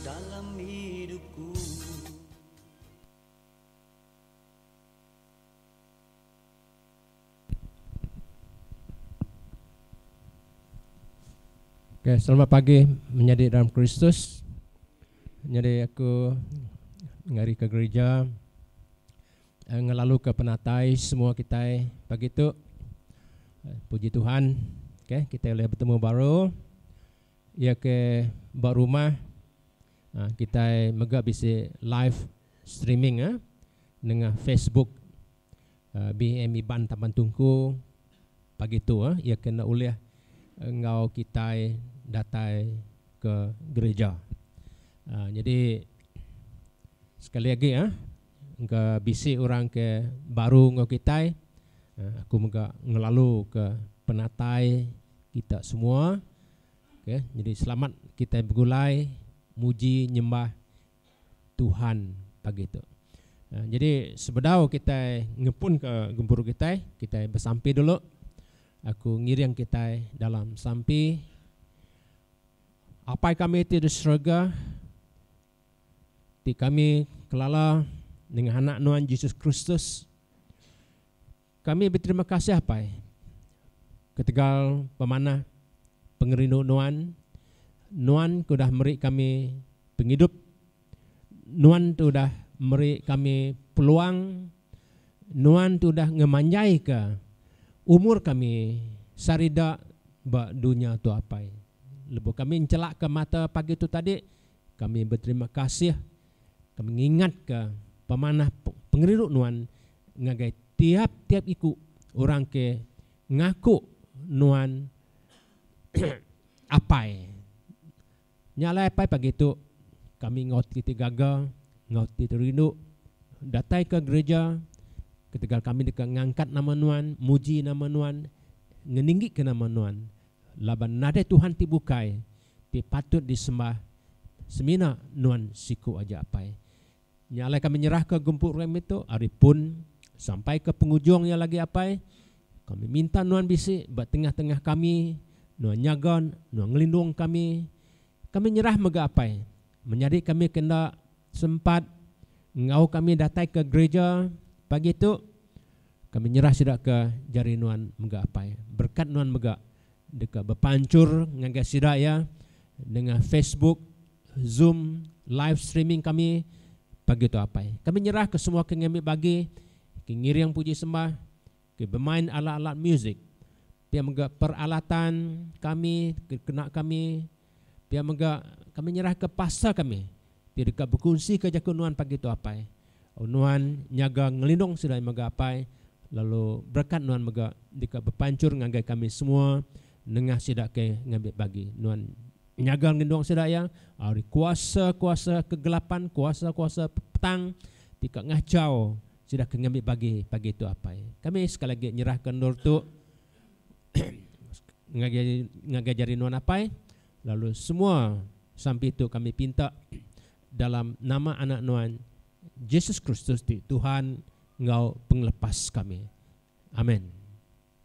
Dalam idup ku. Okay selamat pagi menyadi dalam Kristus nyadi aku ngari ke gerija. ngelaluka penatai semua kitai pagi tu. Puji Tuhan okay, kitai ulih betemu baru iya ke ba rumah ha, kitai mega bisi live streaming ha, nengah Facebook ha, BM Iban Taban Tungku pagi tu ha, iya kena ulih enggau kitai datai ke gereja. Ha, jadi sekali lagi ha, Engka bisi orang ke baru enggau kitai. Aku mega ngelaluka penatai kita semua. Okay. Jadi selamat kitai begulai muji nyembah Tuhan pagi tu. Jadi sebedau kitai ngepunka gempuru kitai, kitai besampi dulu. Aku ngiring kitai dalam sampi. Apai kami ti di serega. ti kami kelala nengah Anak Nuan Jesus Kristus. Kami beterima kasih apai ketegal pemanah pengerindu Nuan. Nuan ke udah meri kami pengidup. Nuan ti udah meri kami peluang. Nuan ti udah ngemanjaika umur kami serida ba dunya tu apai. Lebuh kami nchelaka mata pagi tu tadi. Kami beterima kasih, kami ngingatka pemanah pengeriru Nuan ngagai tiap-tiap iku orang ke ngaku Nuan Apai. Nya alai apai pagi tu kami enggau ti ti gaga, enggau ti ti rindu datai ke gerija ketegal kami deka ngangkat nama Nuan, muji nama Nuan, ngeninggika nama Nuan laban nadai Tuhan ti bukai. ti patut disembah semina nuan siku aja apai. Nya alai kami nyerahka gumpu rami tu ari pun sampai ke pengujung iya lagi apai. Kami minta nuan bisi ba tengah-tengah kami, nuan nyaga, nuan ngelindung kami. Kami nyerah mega apai menyadi kami ke enda. sempat enggau kami datai ke gereja pagi tu, kami nyerah sida ke jari nuan mega apai. Berekat nuan mega deka bepanchur ngagai sida iya nengah Facebook, Zoom, live streaming kami pagi tu apai. Kami nyerah ke semua ke ngambi bagi ke ngiring puji sembah, ke bemain alat-alat musik, pia mega peralatan kami ke kena kami. Pia mega, kami nyerahka pastor kami ti deka bekunsika jaku nuan pagi tu Apai. Au nuan nyaga ngelindung sida mega Apai, lalu berekat nuan mega deka bepanchur ngagai kami semua nengah sida ke ngambi bagi. Nuan nyaga ngelindung sida iya ari kuasa-kuasa kegelapan, kuasa-kuasa petang ti ka ngachau sida ke ngambi bagi pagi tu Apai. Kami sekali agi nyerahka endur tu. ngagai jari nuan apai lalu semua sampi tu kami pinta dalam nama anak nuan Jesus Kristus ti Tuhan enggau pengelepas kami. Amen.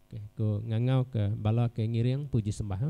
Okay, ku ngangau ke bala ke ngiring puji sembah. Ha?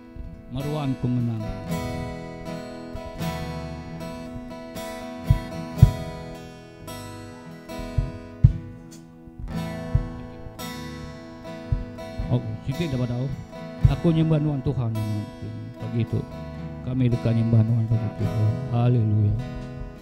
Meruan Pengenang. Au, siti da badau. Aku nyembah nuan Tuhan. Pagi tu kami deka nyembah nuan pagi tu. Haleluya.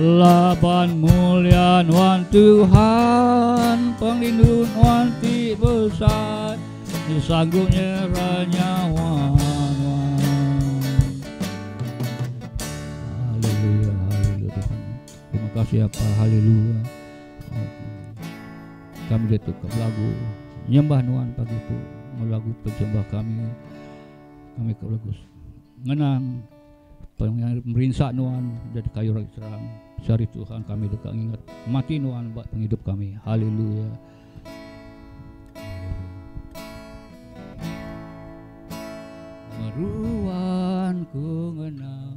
Laban mulia nuan Tuhan, pengerindu nuan ti besai, ti sanggup nyerah nyawa kasih apa haleluya kami dia tu lagu nyembah nuan pagi tu lagu penyembah kami kami ke lagu ngenang Pengiring merinsa Nuan jadi kayu ragi terang. Sehari Tuhan kami deka ngingat mati Nuan ba pengidup kami. Haleluya. Meruan ku ngenang.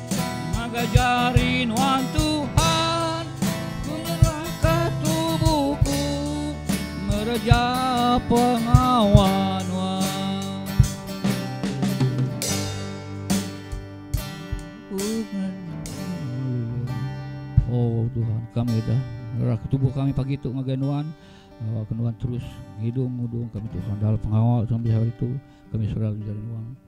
Ngagai jari Nuan Tuhan ku nyerahka tubuh ku ngereja pengawa Nuan. Ku ngereja Oh Tuhan kami dah nyerahka tubuh kami pagi tu ngagai Nuan. Ngawaka Nuan terus ngidung ngudung kami Tuhan dalam pengawa Tuhan bisi hari tu kami serau jari Nuan.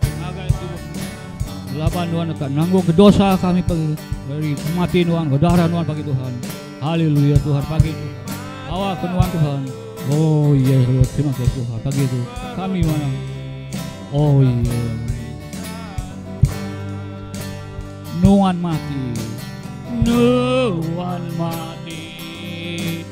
Ngagai Tuhan Tuhan. Laban Tuhan deka nanggungka dosa kami pagi dari mati Tuhan ke darah Tuhan pagi Tuhan. Haleluya Tuhan pagi tu. Awak ke Tuhan Tuhan. Oh iya yeah, Tuhan terima kasih Tuhan pagi tu. Kami mana? Oh iya. Yeah. Nuan mati. Nuan mati.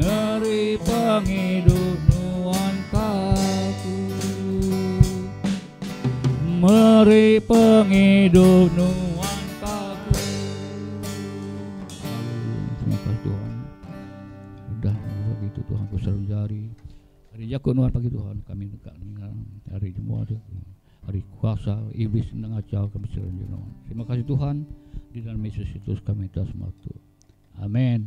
Meri pengidup nuan ka aku. Meri pengidup nuan ka aku. Terima kasih Tuhan. Udah buat gitu Tuhan ku seru jari. Hari jaku nuan pagi Tuhan kami deka ninga hari jemua tu. Hari kuasa iblis nang acau kami seru jari. Terima kasih Tuhan di dalam Yesus Kristus kami minta semua tu. Amin.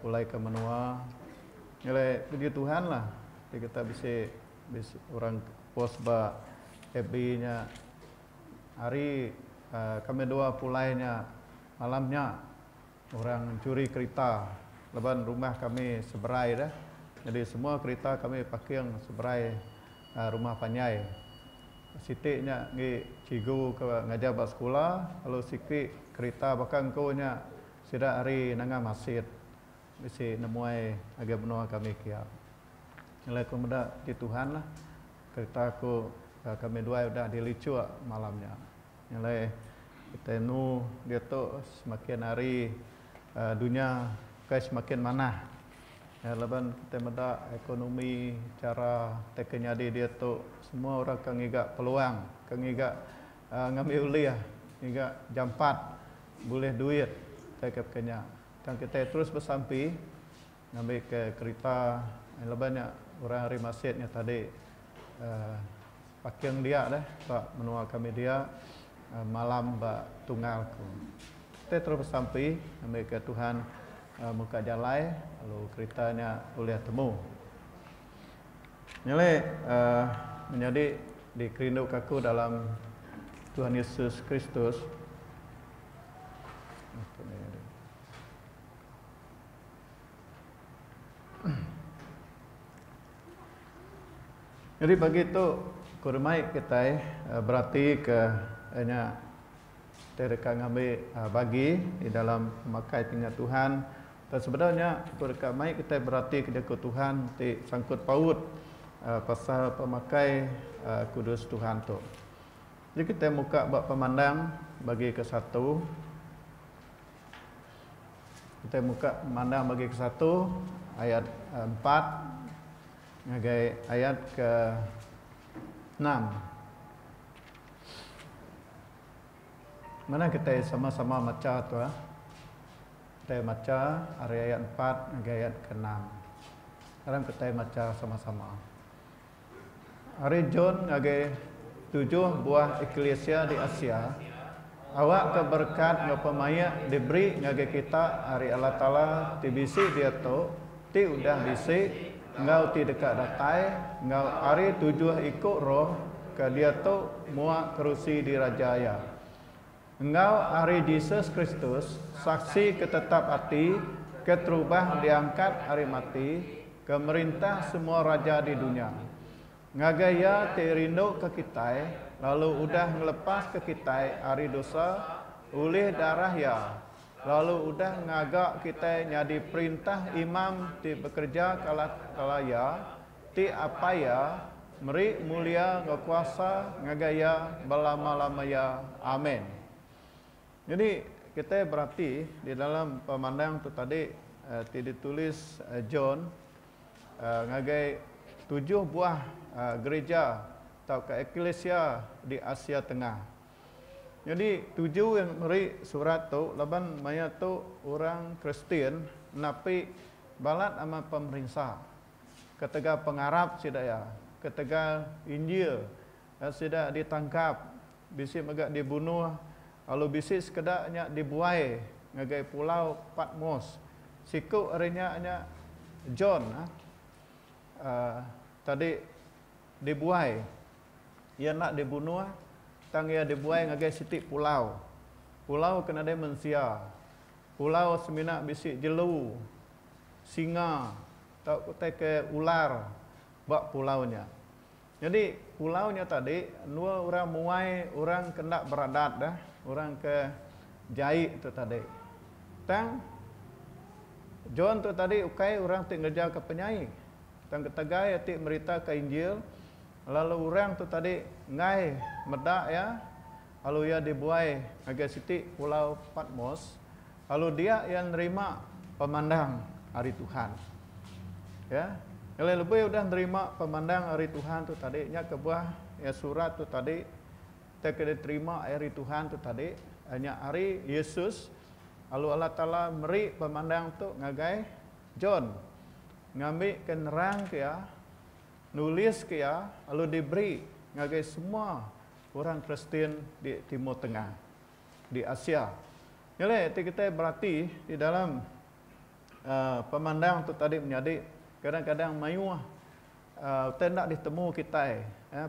pulai ke menua ngelai video tuhan lah ti kita bisi bisi orang post ba fb nya hari um kami dua pulai nya malam nya orang curi kerita laban rumah kami seberai dah jadi semua kerita kami parking seberai um rumah panjai siti nya agi cigu ke ngajar ba sekula lalu siti kerita baka engku nya Sida ari Nanga Masit bisi nemuai ngagai menua kami kia. Nyelai aku meda ti Tuhan lah kereta aku ka kami duai udah dilicuk malam nya. Nyelai kitai enu diatu semakin hari dunya ukai semakin manah laban kitai meda ekonomi chara ti ke nyadi diatu semua orang ke ngiga peluang ke ngiga Ngambi ulih ngiga jampat bulih duit kitai ke pekanya tang kitai terus besampi ngambi ke kerita laban nya orang ari Masit nya tadi paking dia deh ba menua kami dia malam ba tunggal ku. Kitai terus besampi ngambi ke Tuhan muka jalai lalu kerita nya ulih temu. Nyadi menyadi dikerinduka aku dalam Tuhan Yesus Kristus. Nyadi pagi tu ku rumai kitai beratika nya. Kita deka ngambi bagi di dalam pemakai Pinga Tuhan. Tang sebedau nya, ku deka mai kitai beratika jaku Tuhan ti sangkut paut pasal pemakai kudus Tuhan tu. Meri kitai muka ba pemandang bagi ke satu. Kitai muka pemandang bagi ke satu ayat empat ngagai ayat ke enam. Mana kitai sama-sama macha tuah. Kitai macha ari ayat empat ngagai ayat ke enam. Ngarang kitai macha sama-sama. Ari John ngagai tujuh buah eklisia di Asia, Awakka berekat enggau pemaik diberi ngagai kita ari Allah Taala ti bisi diatu, ti udah bisi, enggau ti deka datai, enggau ari tujuh iku roh ke diatu muak kerusi diraja Iya, enggau ari Jesus Kristus, Saksi ke tetap ati ke terubah diangkat ari mati, ke merintah semua raja di dunya. Ngagai Iya ti rinduka kitai lalu udah ngelepaska kitai ari dosa ulih darah Iya lalu udah ngaga kitai nyadi perintah imam ti bekereja kala kala Iya ti Apai Iya meri mulia enggau kuasa ngagai Iya belama-lamaya. Amen. Nyadi kitai berati di dalam pemandang tu tadi ti ditulis John. ngagai tujuh buah gerija tauka eklisia di Asia Tengah. Nyadi tuju iya meri surat tu laban maya tu orang Kristian napi balat amat pemerinsa ketegal pengarap sida iya, ketegal Injil sida ditangkap Bisi mega dibunuh, lalu bisi sekeda nya dibuai ngagai pulau Patmos. Siku ari nya nya John uhh tadi dibuai. Iya enda dibunuh, tang iya dibuai ngagai siti pulau. Pulau ke nadai mensia. Pulau semina bisi jelu, singa tauka utai ke ular ba pulau nya. Nyadi pulau nya tadi endua orang muai orang ke enda beradat dah orang ke jai tu tadi tang John tu tadi ukai orang ti ngereja ka penyai tang ketegal iya ti merita ka injil lalu orang tu tadi enggai meda iya Lalu iya dibuai ngagai siti pulau Patmos, lalu dia iya nerima pemandang ari Tuhan. Ya, ngelai lebih udah nerima pemandang ari Tuhan tu tadi, nya kebuah ya surat tu tadi, kita kena terima ari Tuhan tu tadi, nya ari Yesus, lalu Allah Taala meri pemandang tu ngagai John, ngambi ke nerang ke iya, nulis ke iya, lalu diberi ngagai semua Orang Kristian di Timur Tengah, di Asia. Nyelai ti kitai berati di dalam pemandang tu tadi menyadi kadang-kadang mayuh utai enda ditemu kitai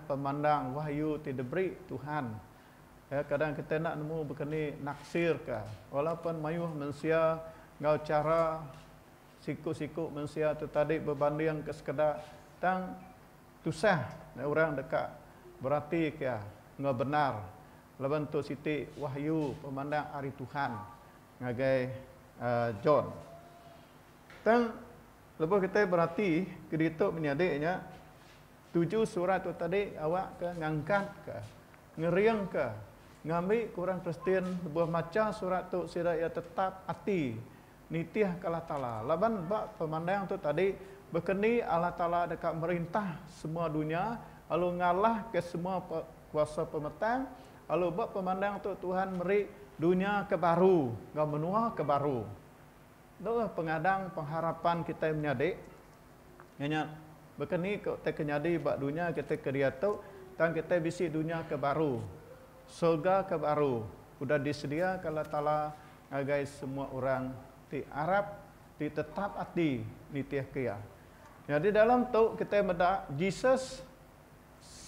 pemandang wahyu ti diberi Tuhan. Kadang kitai enda nemu bekeni naksirka walaupun mayuh mensia enggau chara siku-siku mensia tu tadi bebandingka sekeda tang Tusah meh orang deka beratika enggau bendar laban tu siti wahyu pemandang ari Tuhan ngagai John. Tang lebuh kitai berati ke ditu menyadi nya tuju surat tu tadi awakka ngangkatka, ngeringka ngambi ke orang Kristian lebuh macha surat tu sida iya tetap ati. nitihka Allah Taala. Laban ba pemandang tu tadi, baka ni Allah Taala deka merintah semua dunya lalu ngalahka semua kuasa pemetang, lalu ba pemandang tu Tuhan meri dunya ke baru enggau menua ke baru. Tu lah pengadang pengharapan kitai menyadi. Iya nya baka ni ke utai ke nyadi ba dunya kitai kediatu, tang kitai bisi dunya ke baru, sorga ke baru udah disediaka Allah Taala ngagai semua orang ti arap ti tetap ati nitihka iya. Nyadi dalam tu kitai meda Jesus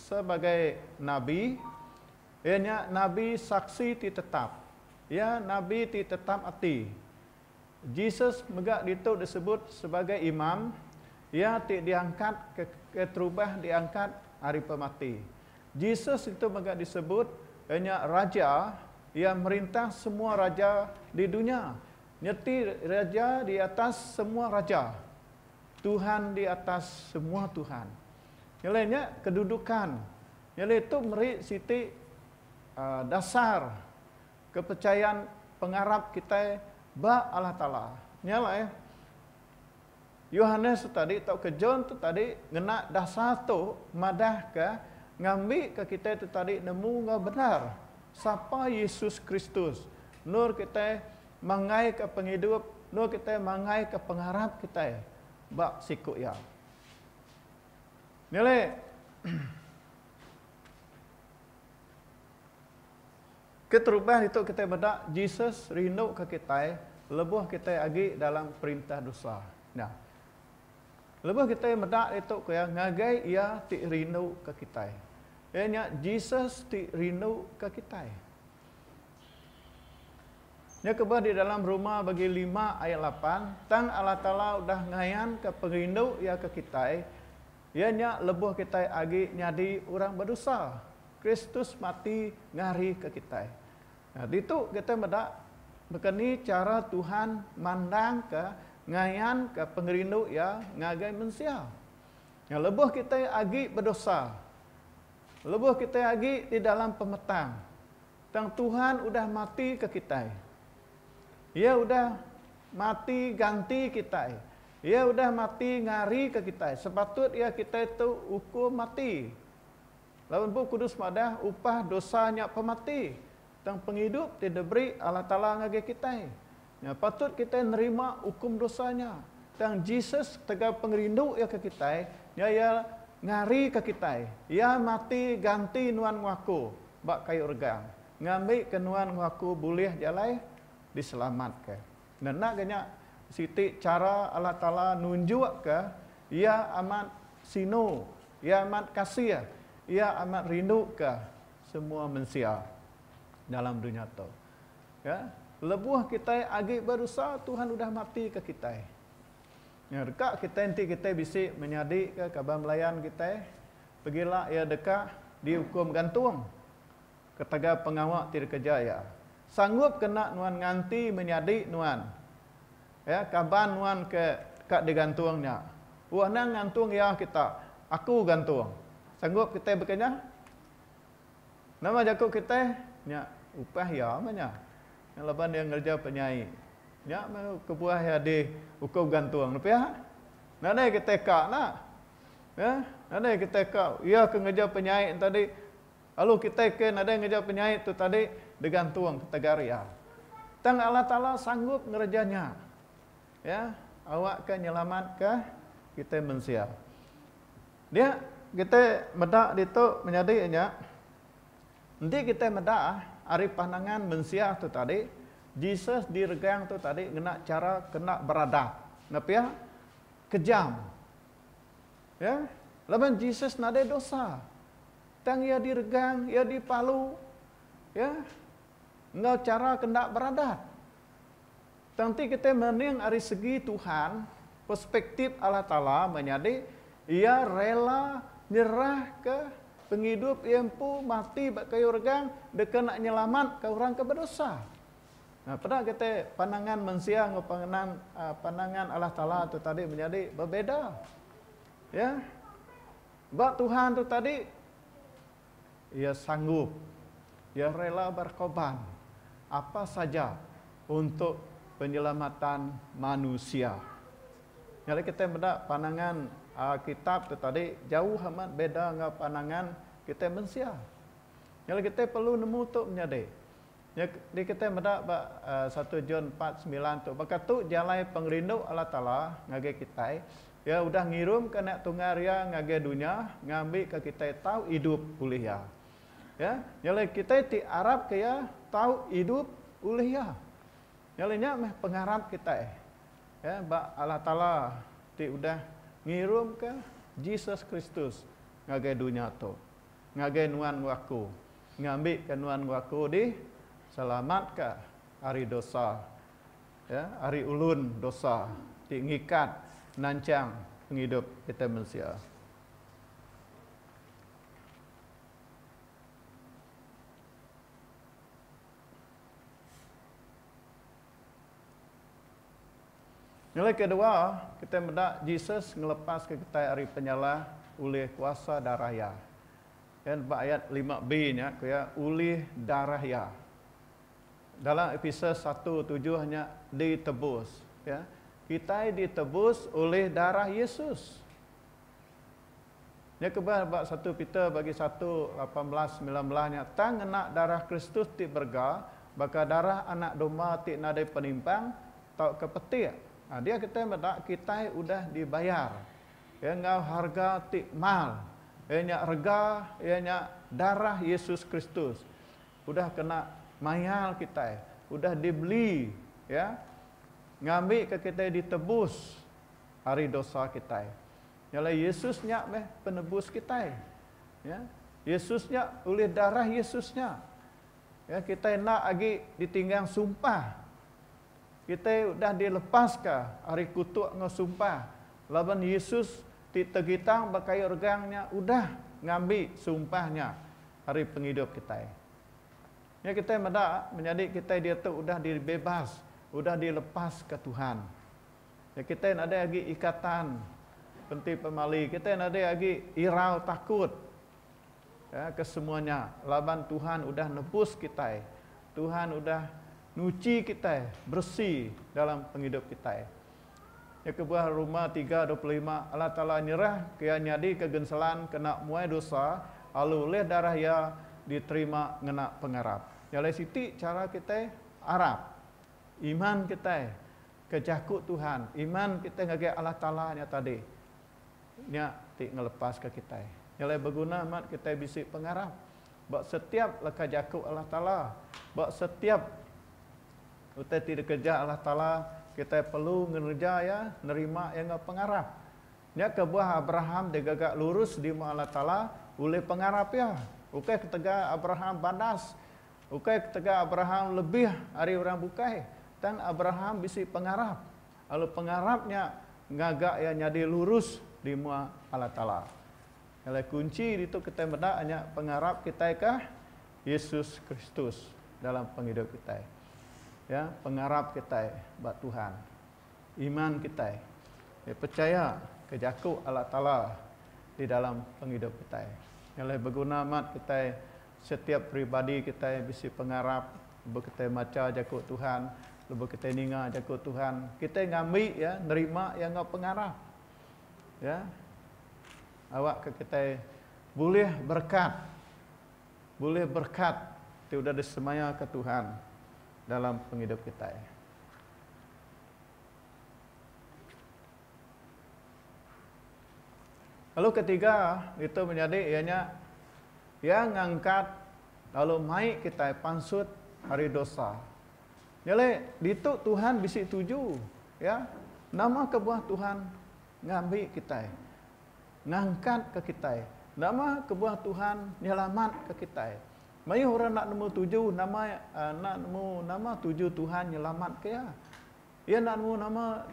sebagai nabi, iya nya nabi saksi ti tetap. Iya nabi ti tetap ati. Jesus mega ditu disebut sebagai Imam, iya ti diangkat keterubah diangkat ari pemati. Jesus ditu mega disebut nya Raja, iya merintah semua raja di dunya. Nyeti Raja di atas semua raja, Tuhan di atas semua tuhan. Nyelai nya kedudukan. Nyelai tu meri siti aaa dasar kepercayaan pengarap kitai ba Allah Taala. Nya alai. Yohanes tadi tauka John tu tadi ngena dasar tu madahka ngambika kitai tu tadi nemu enggau bendar sapa Yesus Kristus, endur kitai manggaika pengidup, endur kitai manggaika pengarap kitai ba siku Iya. Nyadi, Keterubah ditu kitai meda Jesus rinduka kitai lebuh kitai agi dalam perintah dosa. Nya. Lebuh kitai meda ditu ku iya ngagai Iya ti rinduka kitai. Iya nya Jesus ti rinduka kitai. Nya kebuah di dalam Roma bagi lima ayat lapan, tang Allah Taala udah ngayanka perindu Iya ke kitai, iya nya lebuh kitai agi nyadi orang bedosa. Kristus mati ngarika kitai. Ditu kitai meda baka ni chara Tuhan mandangka ngayanka pengerindu Iya ngagai mensia. Lebuh kitai agi bedosa, lebuh kitai agi di dalam pemetang, tang Tuhan udah matika kitai. Iya udah mati ganti kitai. Iya udah mati ngarika kitai. Sepatut iya kitai tu ukum mati. Lalu Bup Kudus madah upah dosa nya pemati, tang pengidup ti diberi Allah Taala ngagai kitai nya patut kitai nerima ukum dosa nya. Tang Jesus ketegal pengerindu Iya ke kitai nya Iya ngarika kitai. Iya mati ganti nuan enggau aku ba kayu regang ngambika nuan enggau aku bulih jalai diselamatka. Ngena ga nya siti chara Allah Taala nunjukka Iya amat sinu, Iya amat kasih, Iya amat rinduka semua mensia dalam dunya tu. Ya, lebuh kitai agi bedosa Tuhan udah matika kitai. Deka kitai enti kitai bisi menyadika kaban belayan kitai, pagila iya deka diukum gantung. Ketagal pengawa ti dikeja iya, sanggup kena nuan nganti menyadi nuan, ya, kaban nuan ke ka digantung nya. Oh, anang ngantung iya kita, aku gantung. Sanggup kitai bekenyah? Nama jaku kitai? Nya upah iya meh nya. Nya laban iya ngereja penyai. Nya meh kebuah iya diukum gantung ne pia. Nadai kitai ka enda. Ya, nadai kitai ka iya ke ngereja penyai enti Lalu kitai ke nadai ngereja penyait tu tadi digantung tegaria. Tang Allah Taala sanggup ngereja nya. Ya, awakka nyelamatka kitai mensia. Dia kitai meda ditu menyadi nya, enti kitai meda ari pandangan mensia tu tadi, Jesus diregang tu tadi ngena chara ke enda beradab, nepia kejam. Ya, laban Jesus nadai dosa. Tang iya diregang, iya dipalu, ya, enggau chara ke enda beradat. Tang enti kitai mening ari segi Tuhan, perspektif Allah Taala meh nyadi, iya rela nyerahka pengidup iya empu mati ba kayu regang deka enda nyelamatka orang ke bedosa. Nah, peda kitai pandangan mensia enggau panganan pandangan Allah Taala tu tadi menyadi bebeda. Ya. Ba Tuhan tu tadi, iya sanggup, iya rela berkorban apa saja untuk penyelamatan manusia. Nya alai kitai meda pandangan Alkitab tu tadi jauh amat beda enggau pandangan kitai mensia. Nya alai kitai perlu nemu tu menyadi. Nya diketeh meda ba satu John empat semilan tu, baka tu jalai pengerindu Allah Taala ngagai kitai, Iya udah ngirumka Anak Tunggal Iya ngagai dunya ngambika kitai tau idup ulih Iya. Ya, nya alai kitai ti arapka Iya tau idup ulih Iya. Nya alai nya meh pengarap kitai, ya, ba Allah Taala ti udah ngirumka Jesus Kristus ngagai dunya tu. ngagai nuan enggau aku, ngambika nuan enggau aku diselamatka ari dosa, ya, ari ulun dosa ti ngikat nanchang pengidup kitai mensia. Nilai ke dua, kitai meda Jesus ngelepaska kitai ari penyalah ulih kuasa darah Iya. Pen ba ayat lima B nya ku iya ulih darah Iya. Dalam Episers satu tujuh nya ditebus ya. Kitai ditebus ulih darah Yesus. Nya kebah ba satu Peter bagi satu lapan belas semilan belas nya tang ngena darah Kristus ti berega baka darah anak domba ti nadai penimpang tauka petik. Dia kitai meda kitai udah dibayar iya enggau harga ti mal iya nya rega iya nya darah Yesus Kristus udah kena mayar kitai udah dibeli iya ngambika kitai ditebus ari dosa kitai. Nya alai Yesus nya meh penebus kitai. Ya. Yesus nya ulih darah Yesus nya. Ya kitai enda agi ditinggang sumpah. Kitai udah dilepaska ari kutuk enggau sumpah laban Yesus ti tegitang ba kayu regang nya udah ngambi sumpah nya ari pengidup kitai. Nya kitai meda menyadi kitai diatu udah dibebas, udah dilepaska Tuhan. Nya kitai nadai agi ikatan enti pemali kitai nadai agi irau takut ya ke semua nya laban Tuhan udah nebus kitai Tuhan udah nyuci kitai beresi dalam pengidup kitai. Nya kebuah Roma tiga dua puluh lima Allah Taala nyerah ke iya nyadika genselan kena muai dosa lalu ulih darah iya diterima ngena pengarap. Nya alai siti chara kitai arap iman kitai. Ke jaku Tuhan, iman kitai ngagai Allah Taala nya tadi, nya ti ngelepaska kitai. Nya alai beguna amat kitai bisi pengarap ba setiap leka jaku Allah Taala. Ba setiap utai ti dikereja Allah Taala, kitai perlu ngereja iya, nerima iya enggau pengarap. Nya kebuah Abraham digaga lurus dimu Allah Taala ulih pengarap iya. Ukai ketegal Abraham badas. Ukai ketegal Abraham lebih ari orang bukai, tang Abraham bisi pengarap, lalu pengarap nya ngaga iya nyadi lurus di mua Allah Taala. Alai kunchi ditu kitai meda nya pengarap kitai ke Yesus Kristus dalam pengidup kitai. Ya, pengarap kitai ba Tuhan. Iman kitai ya percaya ke jaku Allah Taala di dalam pengidup kitai. Alai beguna amat kitai Setiap peribadi kitai bisi pengarap lebuh kitai macha Jaku Tuhan, lebuh kitai ninga Jaku Tuhan, kitai ngambi iya, nerima iya enggau pengarap. Ya. Awakka kitai bulih berekat, bulih berekat ti udah disemayaka Tuhan dalam pengidup kitai. Lalu ketiga ditu menyadi iya nya iya ngangkat lalu mai kitai pansut ari dosa. Nyadi ditu Tuhan bisi tuju iya nama kebuah Tuhan ngambi kitai ngangkat ka kitai nama kebuah Tuhan nyelamat ka kitai. Mayuh orang enda nemu tuju nama enda nemu nama tuju Tuhan nyelamat ka iya. Iya enda nemu nama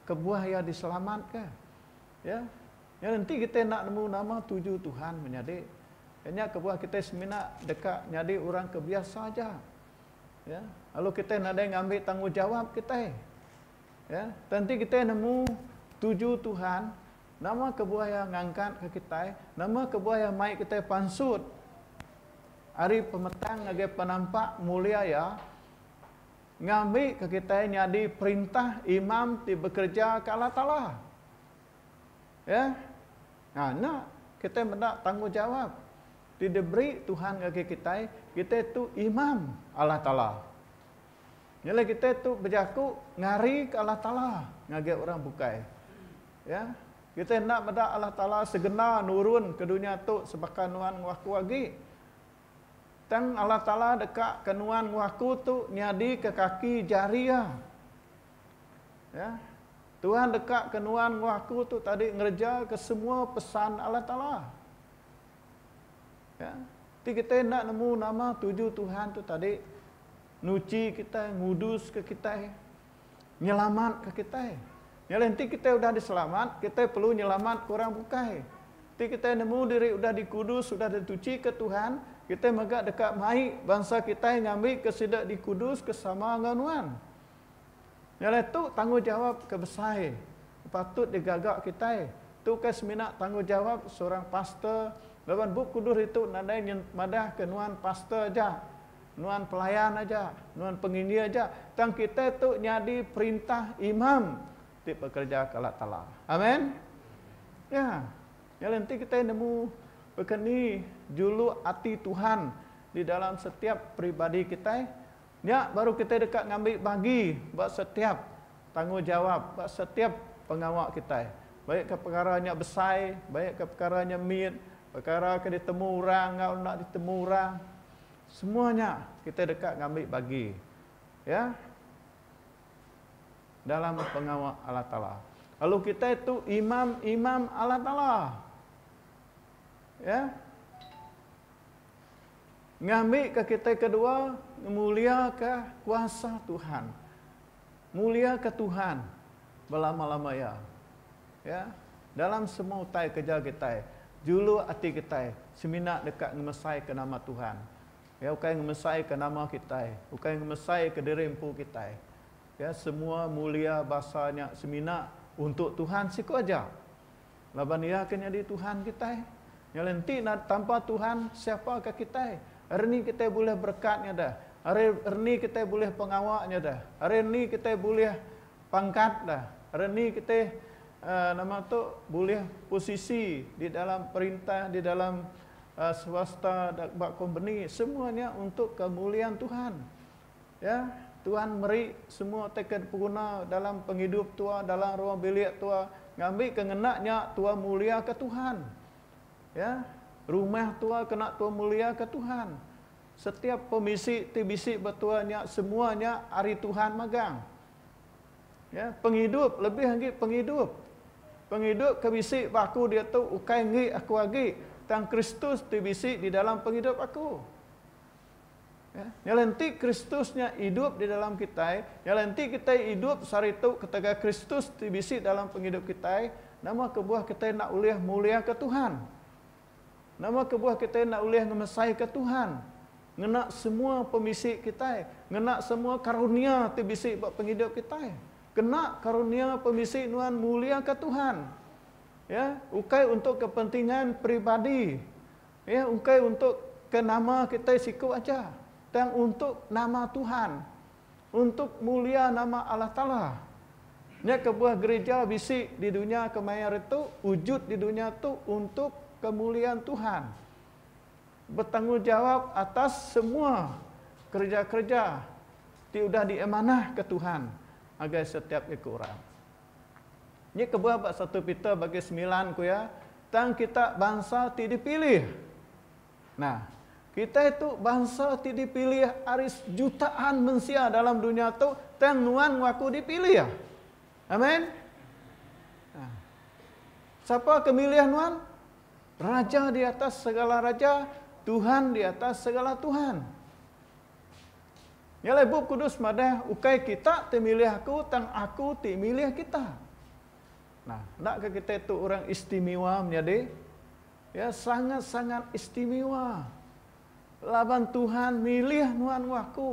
kebuah iya diselamatka. Ya. Nyadi enti kitai enda nemu nama tuju Tuhan menyadi, iya nya kebuah kitai semina deka nyadi orang ke biasa aja. Ya. Lalu kitai nadai ngambi tanggungjawap kitai. Ya. Tang enti kitai nemu tuju Tuhan, nama kebuah iya ngangkatka kitai, nama kebuah iya mai kitai pansut ari pemetang ngagai penampak mulia iya, ngambika kitai nyadi perintah imam ti bekereja ke Allah Taala. Ya. Ha nya kitai meda tanggungjawab ti diberi Tuhan ngagai kitai, kitai tu imam Allah Taala. Nya alai kitai tu bejaku ngarika Allah Taala ngagai orang bukai. Ya. Kitai enda meda Allah Taala segena nurun ke dunya tu sebaka nuan ngewaku agi. Tang Allah Taala deka ka nuan enggau aku tu nyadi ka kaki jari Iya. Ya. Tuhan deka ka nuan enggau aku tu tadi ngereja ka semua pesan Allah Taala. Ya. Ti kitai enda nemu nama tuju Tuhan tu tadi nuchi kitai, ngudus ka kitai. nyelamat ke kitai. Nya alai enti kitai udah diselamat, kitai perlu nyelamat ke orang bukai. Enti kitai nemu diri udah dikudus, udah dituchi ke Tuhan, kitai mega deka mai bansa kitai ngambi ke sida dikudus ke sama enggau nuan. Nya alai tu tanggungjawab ke besai ke patut digaga kitai. Tu ukai semina tanggungjawab seorang pastor laban Bup Kudus ditu nadai madahka nuan pastor aja. Nuan pelayan aja, nuan penginjil aja, tang kitai tu nyadi perintah imam ti bekereja ke Allah Taala. Amen. Ya. Nyadi enti kitai nemu baka ni juluk ati Tuhan di dalam setiap peribadi kitai, nya baru kitai deka ngambi bagi ba setiap tanggungjawab, ba setiap pengawa kitai. Baik ke pekara nya besai, baik ke pekara nya mit, pekara ke ditemu orang enggau enda ditemu orang. Semua nya kita deka ngambi bagi ya dalam pengawa Allah Taala. Lalu kita tu imam-imam Allah Taala. Ya. Ngambi ke kita kedua ngemulia ke kuasa Tuhan. Muliaka Tuhan belama-lama iya. Ya, dalam semua utai kereja kitai, juluk ati kitai semina deka ngemesaika nama Tuhan. Ya, ukai ngemesaika nama kitai, ukai ngemesaika diri empu kitai. Ya, semua mulia basa nya semina untuk Tuhan siku aja. Laban Iya ke nyadi Tuhan kitai. Nya alai enti tanpa Tuhan, siapa ka kitai? Ari ni kitai bulih berekat ngadah? Ari ni kitai bulih pengawa ngadah? Ari ni kitai bulih pangkat dah? Ari ni kitai aaa nama tu bulih posisi di dalam perintah, di dalam aaa swasta ba kompeni? Semua nya untuk kemuliaan Tuhan. Ya, Tuan meri semua teka dipeguna dalam pengidup tua, dalam ruang bilik tua. Ngambi ke ngena nya tua mulia ke Tuhan. Ya, rumah tua kena tua mulia ke Tuhan. Setiap pemisi ti bisi ba tua nya semua nya ari Tuhan magang. Ya, pengidup lebih agi pengidup. Pengidup ke bisi ba aku diatu ukai enggi aku agi, tang Kristus ti bisi di dalam pengidup aku. Nya alai enti Kristus nya idup di dalam kitai, nya alai enti kitai idup saritu ketegal Kristus ti bisi dalam pengidup kitai, nama kebuah kitai enda ulih muliaka Tuhan? Nama kebuah kitai enda ulih ngemesaika Tuhan ngena semua pemisi kitai, ngena semua karunia ti bisi ba pengidup kitai? Kena karunia pemisi nuan muliaka Tuhan. Ya, ukai untuk kepentingan peribadi, Iya ukai untuk ke nama kitai siku aja, tang untuk nama Tuhan, untuk mulia nama Allah Taala. Nya kebuah gerija bisi di dunya kemaya hari tu, ujud di dunya tu untuk kemuliaan Tuhan. Betanggungjawab atas semua kereja-kereja ti udah diamanahka Tuhan ngagai setiap iku orang. Nya kebuah ba satu Peter bagi semilan ku iya, Tang kita bansa ti dipilih. Nah, kitai tu bansa ti dipilih ari sejutaan mensia dalam dunya tu, tang nuan enggau aku dipilih. Amen. Nah, sapa ke milih nuan? Raja di atas segala raja, Tuhan di atas segala tuhan. Nya alai Bup Kudus madah, Ukai kita ti milih aku, tang aku ti milih kita. Nah, endaka kitai tu orang istimiwa menyadi? Ya, sangat-sangat istimiwa. Laban Tuhan milih nuan enggau aku.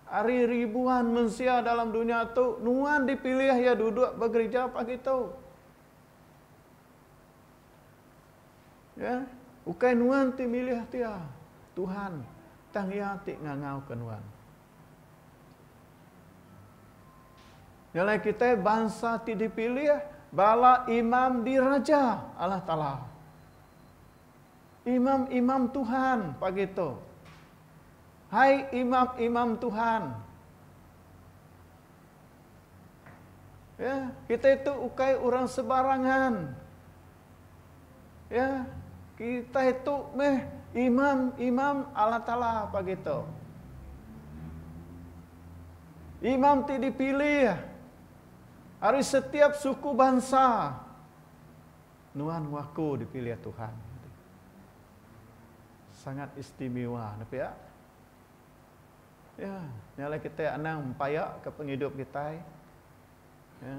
Ari ribuan mensia dalam dunya tu, nuan dipilih iya duduk ba gerija pagi tu. Ya, ukai nuan ti milih dia, Tuhan, tang Iya ti ngangauka nuan. Nya alai kitai bansa ti dipilih bala imam diraja Allah Taala. Imam-imam Tuhan pagi tu. Hai imam-imam Tuhan. Ya, kita itu ukai orang sebarangan. Ya, kita itu meh imam-imam Allah Taala pagi tu. Imam ti dipilih ari setiap suku bansa. Nuan waku dipilih Tuhan. Sangat istimewa nepiak. Ya, nya alai kitai anang mempaikka pengidup kitai ya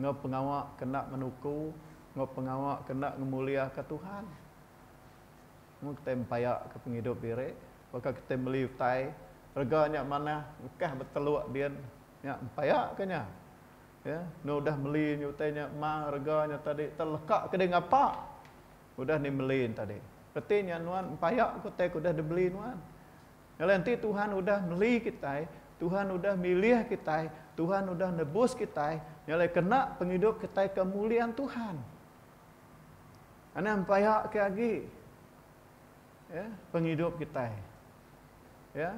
enggau pengawa ke enda menuku enggau pengawa ke enda ngemuliaka Tuhan. Mun kitai mempaikka pengidup diri, baka kitai meli utai rega nya manah bukah betelok din, nya mempaikka nya. Ya, enda udah meli utai nya mang rega nya tadi telekaka diri ngapa. Udah ni meli tadi. Reti nya nuan empaya ke utai ke udah dibeli nuan. Nyadi enti Tuhan udah meli kitai, Tuhan udah milih kitai, Tuhan udah nebus kitai, nya alai kena pengidup kitai ke mulian Tuhan. Anang empaya ke agi ya pengidup kitai. Ya.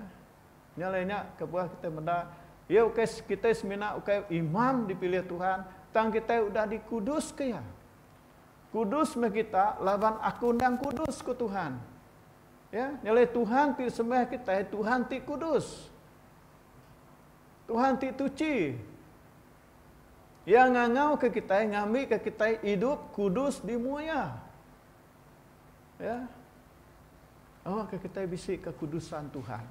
Nya alai nya kebuah kitai meda iya ukai kitai semina ukai imam dipilih Tuhan tang kitai udah dikuduska iya. Kudus meh kita, laban Aku endang kudus, ku Tuhan. Ya, nya alai Tuhan ti disembah kitai, Tuhan ti kudus. Tuhan ti tuchi. Iya ngangauka kitai, ngambika kitai idup kudus di mua Iya. Ya. Awakka kitai bisi kekudusan Tuhan.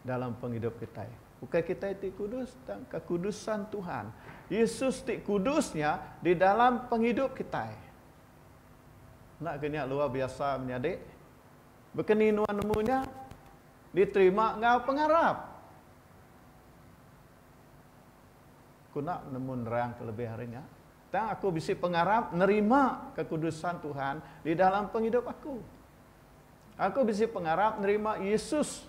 dalam pengidup kitai. Ukai kitai ti kudus, tang kekudusan Tuhan. Yesus ti kudus nya di dalam pengidup kitai. Enda ke nya luar biasa menyadi? Baka ni nuan nemu nya diterima enggau pengarap? Aku enda nemu nerang ke lebih ari nya. Tang aku bisi pengarap nerima kekudusan Tuhan di dalam pengidup aku. Aku bisi pengarap nerima Yesus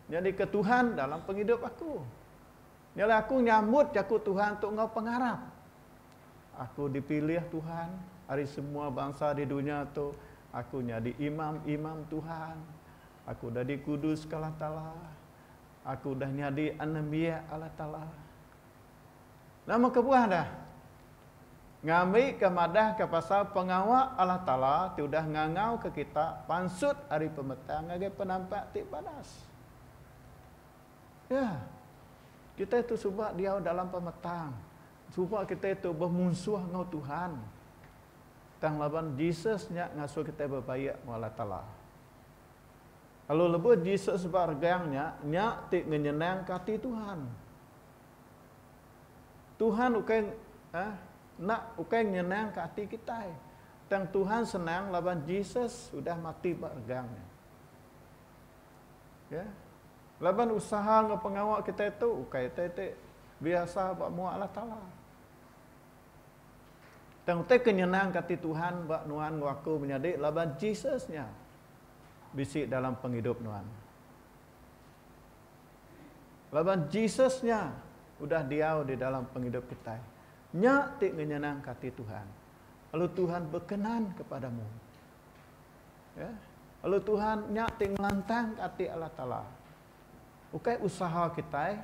nyadika Tuhan dalam pengidup aku. Nya alai aku nyambut jaku Tuhan tu enggau pengarap. Aku dipilih Tuhan ari semua bansa di dunya tu, aku nyadi imam-imam Tuhan. Aku udah dikuduska Allah Taala. Aku udah nyadi anembiak Allah Taala. Nama kebuah dah? Ngambika madahka pasal pengawa Allah Taala ti udah ngangauka kita pansut ari pemetang ngagai penampak ti banas. Ya, kitai tu suba diau dalam pemetang. Suba kitai tu bemunsuh enggau Tuhan. Tang laban Jesus nya ngasuh kitai bebaik enggau Allah Taala. Lalu lebuh Jesus ba regang nya, nya ti ngenyenangka ati Tuhan. Tuhan ukai ah enda ukai nyenangka ati kitai. Tang Tuhan senang laban Jesus udah mati ba regang nya. Ya. Laban usaha enggau pengawa kitai tu ukai utai ti biasa ba mua Allah Taala. Tang utai ke nyenangka ati Tuhan ba nuan enggau aku menyadi laban Jesus nya bisi dalam pengidup nuan. Laban Jesus nya udah diau di dalam pengidup kitai. Nya ti ngenyenangka ati Tuhan. Lalu Tuhan bekenan kepadamu. Ya. Lalu Tuhan nya ti ngelantangka ati Allah Taala. Ukai usaha kitai.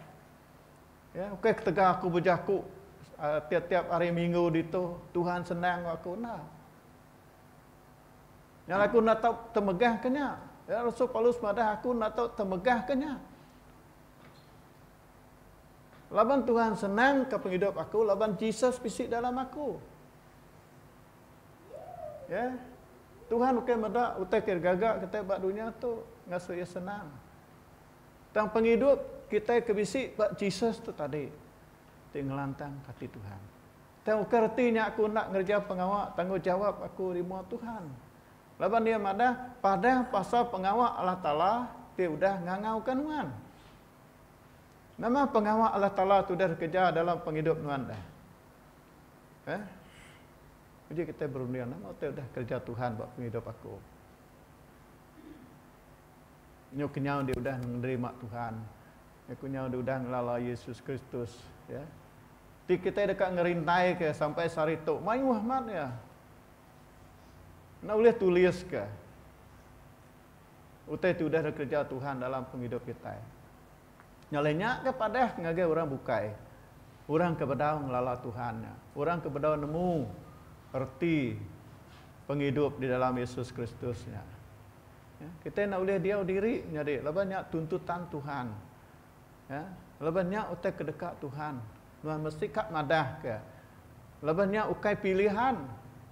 Ya, ukai ketegal aku bejaku ah, tiap-tiap hari minggu ditu Tuhan senang aku enda. Nyal aku enda tau temegah ke nya. Ya, Rasul Paulus madah aku enda tau temegah ke nya. Laban Tuhan senang ke pengidup aku, laban Jesus bisi dalam aku. Ya. Tuhan bukan meda utai ke gaga kita ba dunia tu ngasu iya senang. Tang pengidup kita ke bisi ba Jesus tu tadi ti ngelantang ati Tuhan. Tauka reti nya aku enda ngereja pengawa tanggungjawap aku di mua Tuhan? Laban iya madah, Padah pasal pengawa Allah Taala ti udah ngangauka nuan. Nama pengawa Allah Taala ti udah dikereja dalam pengidup nuan dah? Eh? Uji kitai berunding, nama ti udah kereja Tuhan ba pengidup aku? Nyau kenyau diudah nerima Tuhan. Aku nyau diudah ngelala Yesus Kristus, ya. Ti kitai deka ngerintaika sampai sehari tu. Mayuh amat iya. Enda ulih tuliska utai ti udah dikereja Tuhan dalam pengidup kitai. Nya alai nya ke padah ngagai orang bukai. Orang ke bedau ngelala Tuhan nya. Orang ke bedau nemu reti pengidup di dalam Yesus Kristus nya. Ya, kitai enda ulih diau diri nyadi laban nya tuntutan Tuhan. Ya, laban nya utai ke deka Tuhan. Nuan mesti ka madahka laban nya ukai pilihan.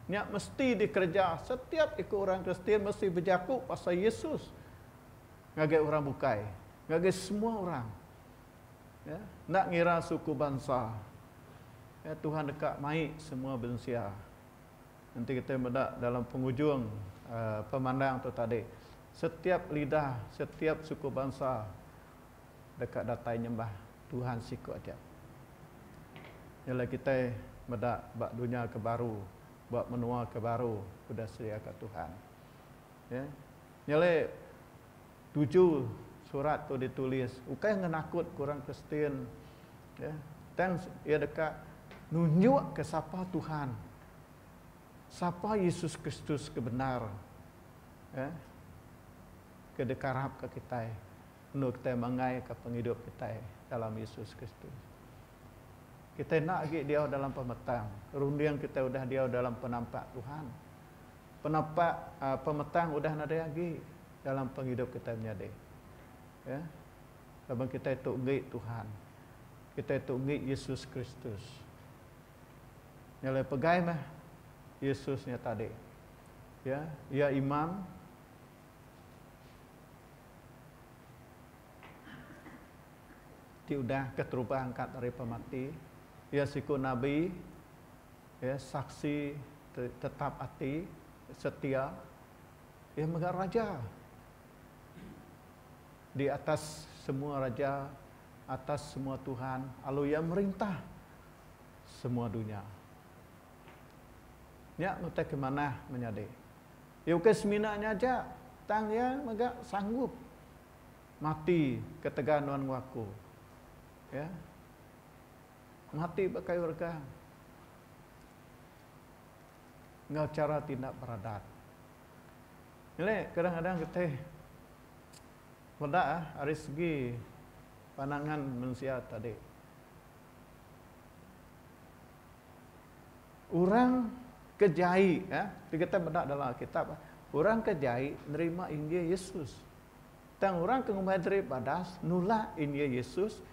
Nya mesti dikereja. Setiap iku orang Kristian mesti bejaku pasal Yesus ngagai orang bukai, ngagai semua orang. Ya, enda ngira suku bansa. Ya, Tuhan deka mai semua bensia. Enti kitai meda dalam pengujung pemandang tu tadi, setiap lidah, setiap suku bansa deka datai nyembah Tuhan siku aja. Nya alai kitai meda ba dunya ke baru, ba menua ke baru udah sediaka Tuhan. Ye. Nya alai. Tuju surat tu ditulis ukai ngenakut ke orang Kristian, tang iya deka nunjukka sapa Tuhan, sapa Yesus Kristus ke bendar ke dikarapka kitai endur kitai manggaika pengidup kitai dalam Yesus Kristus. Kitai enda agi diau dalam pemetang, runding kitai udah diau dalam penampak Tuhan. Penapak pemetang udah nadai agi dalam pengidup kitai menyadi. Ya. Laban kitai tu enggi Tuhan. Kitai tu enggi Yesus Kristus. Nya alai pegai meh Yesus nya tadi. Ya, Iya Imam. Ti udah keterubah angkat daripa mati. Iya siku Nabi. Iya saksi ti tetap ati, setia, iya mega raja di atas semua raja, atas semua tuhan, lalu iya merintah semua dunya. Nya utai ke manah menyadi. Iya ukai semina nya aja, tang iya mega sanggup mati ketegal nuan enggau aku. Ya. Mati ba kayu regang enggau chara ti enda beradat. Nyadi kadang-kadang getih meda ari segi pandangan mensia tadi. Orang ke jai eh ti kitai meda dalam alkitab eh orang ke jai nerima injil yesus tang orang ke ngumbai diri badas nulak injil yesus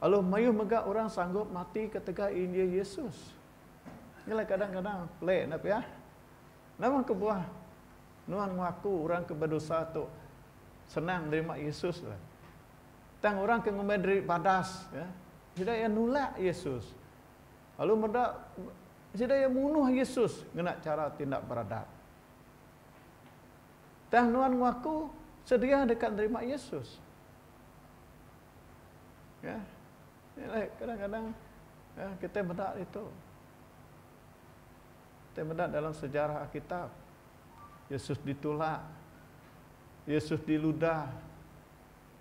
Alu mayuh mega orang sanggup mati ketegal injil Yesus. Nyelai kadang kadang pelik enda pia? Nama kebuah nuan mengaku orang ke bedosa tu senang nerima Yesus dah. Tang orang ke ngumbai diri badas ya sida iya nulak Yesus. Alu meda sida iya munuh Yesus ngena chara ti enda beradab. Tang nuan mengaku sedia deka nerima Yesus. Ya, inilah kadang-kadang ya, kita meda itu. Kita meda dalam sejarah Alkitab. Yesus ditulak. Yesus diludah.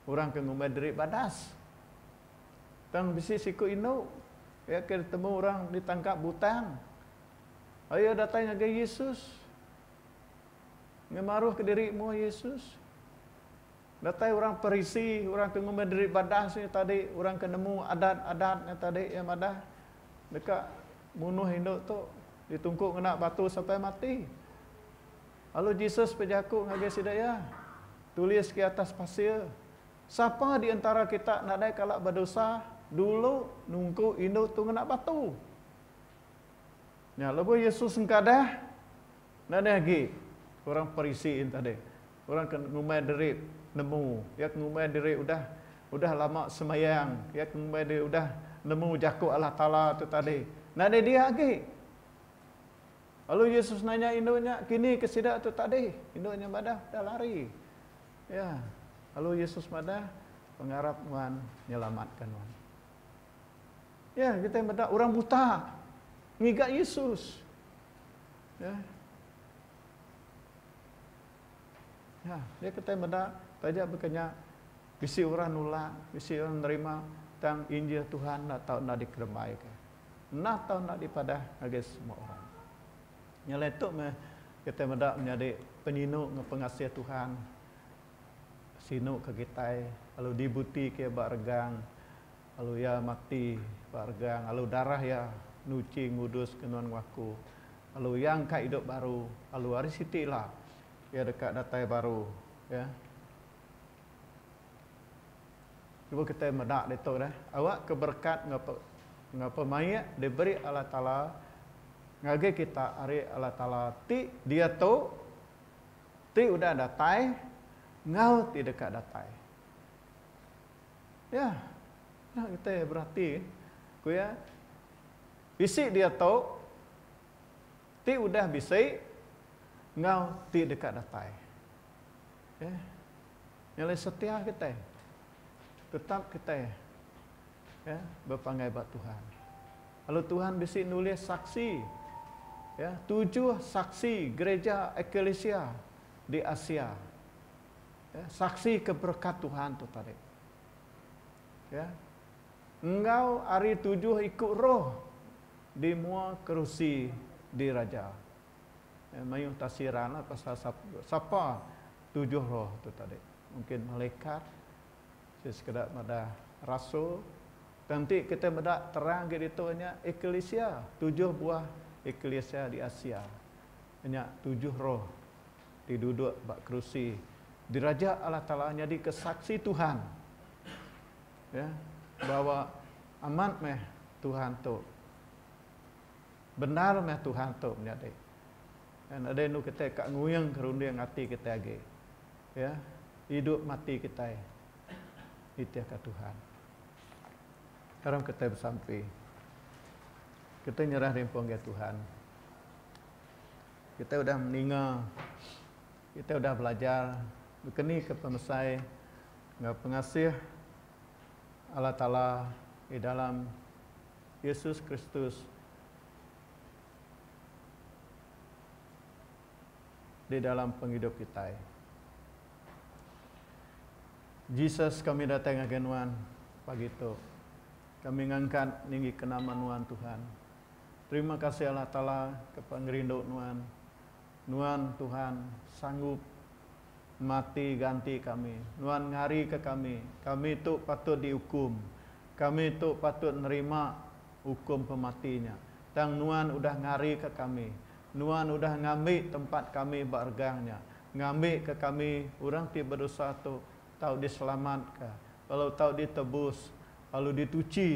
Orang ke ngumbai diri badas. Tang bisi siku indu. Ya, ke ditemu orang ditangkap butang. Ayo datang ngagai Yesus. Ngemaruh ke diri mua Yesus. Datai orang Parisi, orang ke ngumbai diri badas nya tadi, orang ke nemu adat-adat nya tadi iya madah, Deka munuh indu tu, ditungku ngena batu sampai mati. Lalu Jesus bejaku ngagai sida iya, Tulis ke atas pasir, Sapa di entara kita nadai kala bedosa, dulu nungku indu tu ngena batu. Nya lebuh Yesus engkadah, nadai agi orang Parisi nya tadi, orang ke ngumbai diri nemu, iya ke ngumbai diri udah udah lama sembayang, iya ke ngumbai diri udah nemu jaku Allah Taala tu tadi, nadai dia agi. Lalu Yesus nanya indu nya, Kini ke sida tu tadi? Indu nya madah, Dah lari. Ya. Lalu Yesus madah, Pengarap nuan nyelamat ka nuan. Ya, kitai meda orang buta ngiga Yesus. Ya. Ya, dia kitai meda taja baka nya bisi orang nulak, bisi orang nerima tang injil Tuhan enda tau enda dikerembaika. Enda tau enda dipadah ngagai semua orang. Nya alai tu meh kitai meda menyadi penyinu enggau pengasih Tuhan sinu ke kitai lalu dibuti ke ba regang Lalu iya mati ba regang, lalu darah iya nuchi ngudus ke nuan waku, lalu iya engka idup baru, lalu ari siti ila iya deka datai baru, ya. Cuba kitai meda ditu deh, awakka berekat enggau enggau pemaik diberi Allah Taala ngagai kita ari Allah Taala ti diatu, ti udah datai enggau ti deka datai. Iya, enda kitai berati, ku iya. Bisi diatu ti udah bisi enggau ti deka datai. Okey. Nya alai setia kitai. Tetap kitai ya bepanggai ba Tuhan. Lalu Tuhan bisi nulis saksi ya, tujuh saksi gereja ekalisia di Asia. Ya, saksika berekat Tuhan tu tadi. Ya. Enggau ari tujuh iku roh di mua kerusi diraja. Ya, mayuh tafsiranlah pasal sapa tujuh roh tu tadi. Mungkin malaikat, si sekeda madah rasul. Tang ti kita meda terang agi ditu nya eklisia, tujuh buah eklisia di Asia. Nya tujuh roh ti duduk ba kerusi diraja Allah Taala nyadika Saksi Tuhan ya bahawa amat meh Tuhan tu bendar meh Tuhan tu menyadi dan udah enu kitai ka nguing ka runding ati kitai agi ya idup mati kitai nitihka Tuhan. Karam kitai besampi. Kitai nyerah rimpu ngagai Tuhan. Kitai udah meninga, kitai udah belajar bekenika pemesai enggau pengasih Allah Taala di dalam Yesus Kristus di dalam pengidup kitai. Jesus kami datai ngagai nuan pagi tu. Kami ngangkat ninggika nama nuan Tuhan. Terima kasih Allah Taala ke pengerindu nuan. Nuan Tuhan sanggup mati ganti kami. Nuan ngari ke kami. Kami tu patut di ukum. Kami tu patut nerima ukum pemati nya. Tang nuan udah ngari ke kami. Nuan udah ngambi tempat kami ba regang nya. Ngambi ke kami orang ti bedosa tu tau di selamat ka lalu tau di tebus lalu di tuchi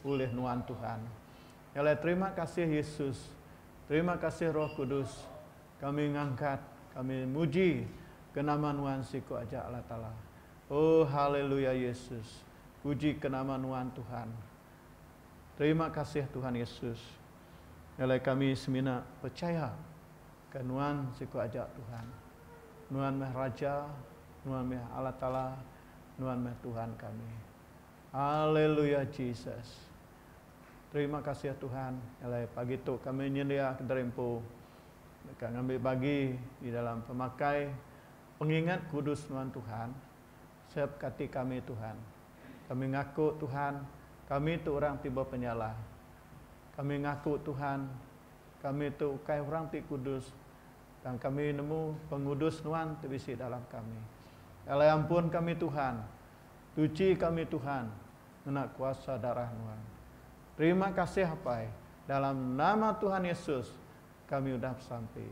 ulih nuan Tuhan. Ngalai terima kasih Yesus, terima kasih Roh Kudus, kami ngangkat, kami muji ke nama Nuan siku aja Allah Taala. Oh haleluya Yesus, puji ke nama Nuan Tuhan. Terima kasih Tuhan Yesus. Ngalai kami semina percaya ke Nuan siku aja Tuhan. Nuan meh Raja, Nuan meh Allah Taala, Nuan meh Tuhan kami. Haleluya Jesus. Terima kasih Tuhan alai pagi tu kami nyendia kediri empu deka ngambi bagi di dalam pemakai pengingat kudus nuan Tuhan. Sep ka ati kami Tuhan. Kami ngaku Tuhan kami tu orang ti bepenyalah. Kami ngaku Tuhan kami tu ukai orang ti kudus tang kami nemu pengudus nuan ti bisi dalam kami. Alai ampun kami Tuhan. Tuchi kami Tuhan ngena kuasa darah Nuan. Terima kasih Apai, dalam nama Tuhan Yesus kami udah besampi.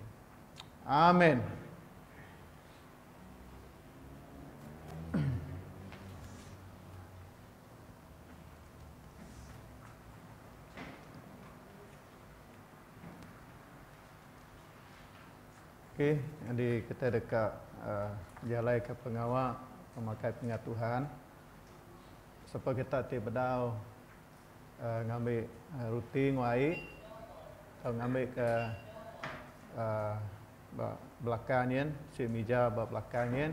Amin. Ok nyadi kita deka jalaika pengawa pemakai pengatuhan supaya kita ti bedau ngambi reti enggau ai tau ngambi ka ba belakang nyin si mija ba belakang nyin.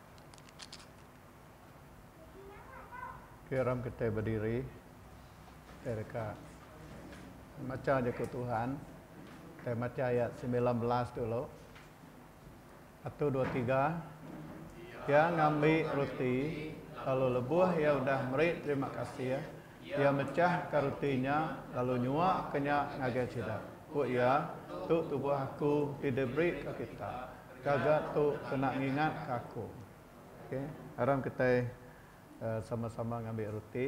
Okey orang kitai bediri kitai deka macha jaku Tuhan kitai macha ayat semilan belas dulu satu dua tiga iya ngambi roti lalu lebuh iya udah meri terima kasih iya mechah ka roti nya lalu nyua ke nya ngagai sida ku iya tu tubuh aku ti diberi ka kita. Kaga tu kena ngingat ka aku. Ok aram kitai sama sama ngambi ruti.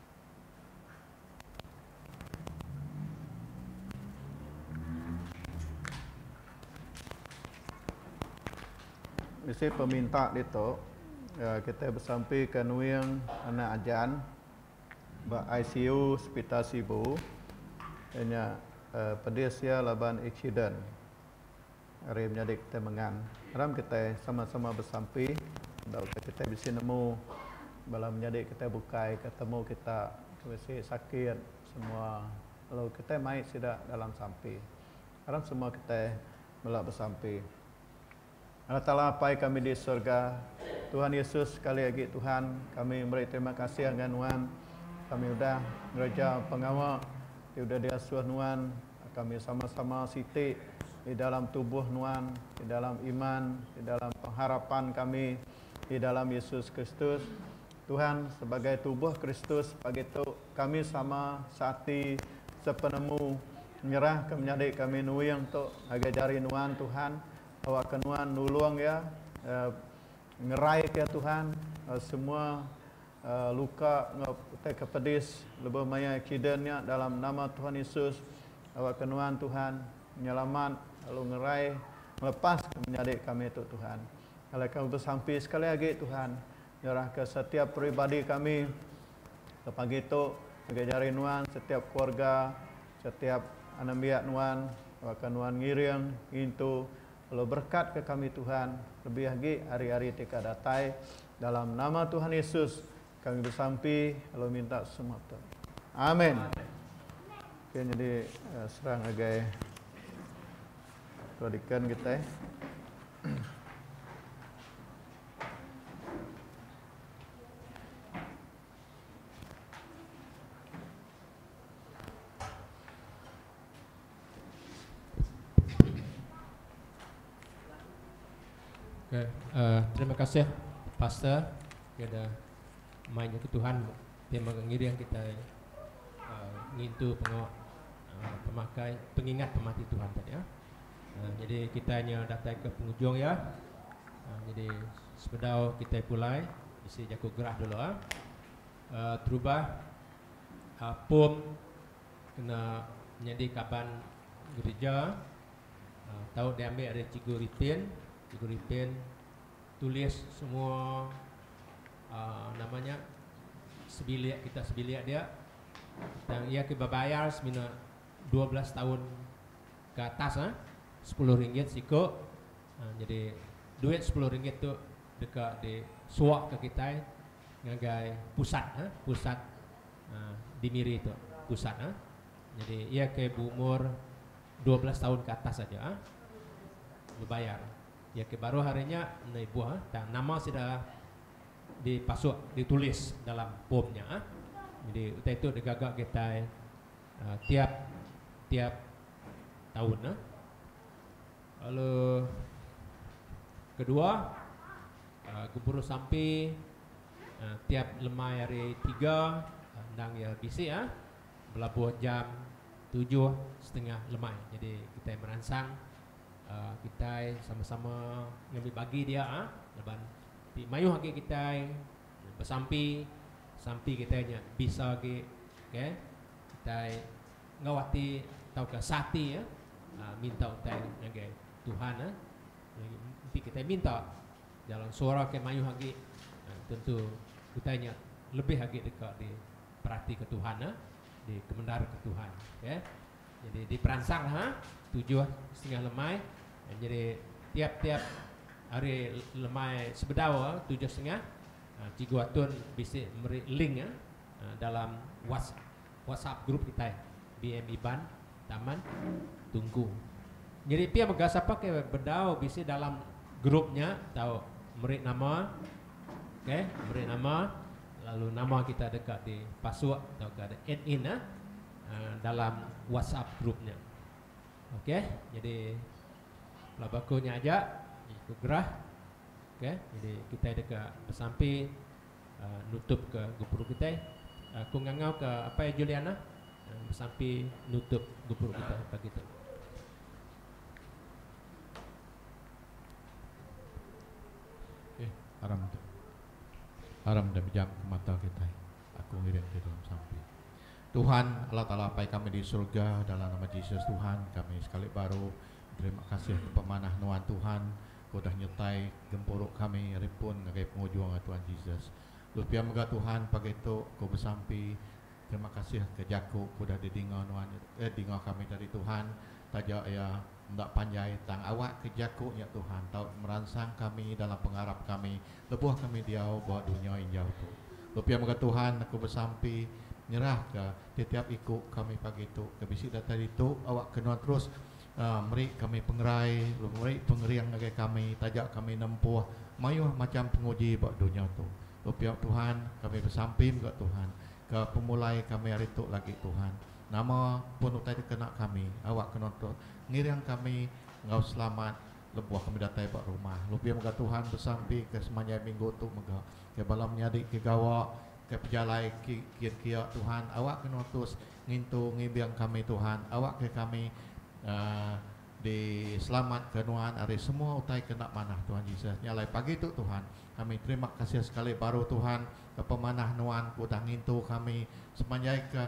Isi peminta ditu, kitai besampika nuing anak Ajan ba ICU Sepital Sibu iya nya pedis iya laban aksiden. Ari menyadi kitai mengan, aram kitai sama-sama besampi enggau ke kitai bisi nemu bala menyadi kitai bukai ke temu kita ke bisi sakit semua lalu kitai mai sida dalam sampi. Aram semua kitai mela besampi. Allah Taala Apai kami di surga, Tuhan Yesus sekali agi Tuhan, kami meri terima kasih ngagai Nuan kami udah ngereja pengawa ti udah diasuh Nuan. Kami sama-sama siti di dalam tubuh nuan, di dalam iman, di dalam pengharapan kami di dalam Yesus Kristus, Tuhan, sebagai tubuh Kristus pagi tu kami sama seati sepenemu nyerahka menyadi kami nuing tu ngagai jari nuan Tuhan, awakka nuan nulung iya, Ngeraika Tuhan semua luka enggau utai ke pedis lebuh maya accident nya dalam nama Tuhan Yesus. Awakka nuan Tuhan nyelamat lalu ngerai ngelepaska menyadi kami tu Tuhan. Alai kami besampi sekali agi Tuhan nyerahka setiap peribadi kami ke pagi tu ngagai jari nuan setiap keluarga. Setiap anembiak nuan baka nuan ngiring ngintu lalu berekat ke kami Tuhan lebih agi ari hari ti ka datai dalam nama Tuhan Yesus kami besampi lalu minta semua tu Amen okay, jadi eh, serang agai Tuan Deacon kita eh. Okey uhh terima kasih pastor kena mai nyadi tuhan ti mega ngiring kitai uhh ngintu pengawa uhh pemakai pengingat pemati tuhan tadi ah. Nyadi kitai nya datai ke pengujung iya. Nyadi sebedau kitai pulai bisi jaku gerah dulu. Terubah pom kena nyadi kaban gereja tau diambil ari Cikgu Ripin. Cikgu Ripin tulis semua nama nya sebilik kita sebilik dia. Tang iya ke bebayar semina dua belas taun. Ke atas ah sepuluh ringgit siku ah nyadi duit sepuluh ringgit tu deka di suak ke kitai ngagai pusat ah pusat ah di Miri tu pusat ah nyadi iya ke beumur dua belas taun ke atas aja ah bebayar iya ke baruh ari nya enda ibuh ah tang nama sida di pasuk di tulis dalam pom nya ah nyadi utai tu digaga kitai tiap tiap taun nah lalu kedua gempuru sampi tiap lemai hari tiga endang iya bisi ah belabuh jam tujuh setengah lemai jadi kitai meransang kitai sama-sama ngambi bagi dia laban ti mayuh agi kitai. Besampi, sampi kitai nya bisa agi okay, kitai enggau ati tauka seati minta utai ngagai Tuhan. Enti kitai minta dalam suara ke mayuh agi, tentu utai nya lebih agi deka diperatika Tuhan, dikemendaraka Tuhan. Okay. Nyadi diperansang ha tujuh setengah lemai nyadi tiap-tiap hari lemai sebedau tujuh setengah Cikgu Atun bisi meri link dalam WhatsApp group kitai BM Iban Taman Tungku. Nyadi pia mega sapa ke bedau bisi dalam group nya tau meri nama ok meri nama lalu nama kita deka dipasuk tauka di add in. dalam WhatsApp group nya. Ok, jadi pelaba aku nya aja jadi aku gerah. Ok, jadi kitai deka besampi uh, nutup ke gepuru kitai. Aku ngangau ke Apai Juliana uh, besampi nutup gepuru kitai pagi tu. haram tu haram dah bejam ke mata kita aku ngirim ke dalam sampi Tuhan Allah Taala Apai kami di surga dalam nama Jesus Tuhan kami sekali baru berterima kasih ke pemanah nuan Tuhan ke udah nyertai gempuru kami ari pun ngagai pengujung ngagai Tuhan Jesus lalu pia mega Tuhan pagi tu ku besampi terima kasih ke jaku ke udah di dinga nuan eh dinga kami tadi Tuhan taja iya Enda panjai tang awakka jaku nya Tuhan tau meransang kami dalam pengarap kami lebuh kami diau ba dunya injau tu. Bepia mega Tuhan aku besampi nyerahka tetiap iku kami pagi tu ke bisi datai ditu awakka nuan terus meri kami pengerai lalu meri pengering ngagai kami taja kami nempuh mayuh macham penguji ba dunya tu. Bepia Tuhan kami besampi mega Tuhan ke pemulai kami hari tu lagi Tuhan. Nama pun utai dikena kami awak kena untuk ngiring kami enggau selamat lebuh kami datai ba rumah. Lebih mega Tuhan besampi ke semanjai minggu tu mega. Ke bala menyadi ke gawa ke pejalai ke kiet kia Tuhan awak kena terus ngintu ngimbing kami Tuhan awak ke kami uhh. Di selamat ke nuan ari semua utai ke enda manah Tuhan Jesus. Nya alai pagi tu Tuhan, kami terima kasih sekali baru Tuhan ke pemanah nuan ke udah ngintu kami sepanjai ke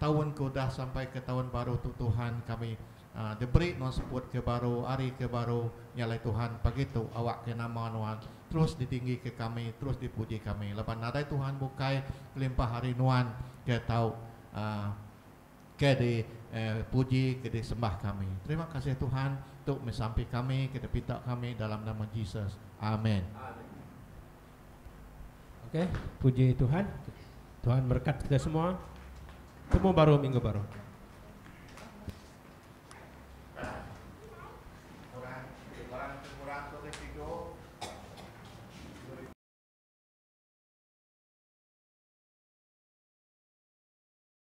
taun ke udah sampai ke taun baru tu Tuhan kami diberi nuan seput ke baru ari ke baru nya alai Tuhan pagi tu awak ke nama nuan terus di tinggi ke kami terus di puji kami laban nadai Tuhan bukai kelimpah ari nuan ke tau Ke di puji ke di sembah kami. Terima kasih Tuhan tu meh sampi kami ke di pita kami dalam nama Jesus. Amen. Okey, puji Tuhan. Tuhan berkat kita semua. Temu baru minggu baru.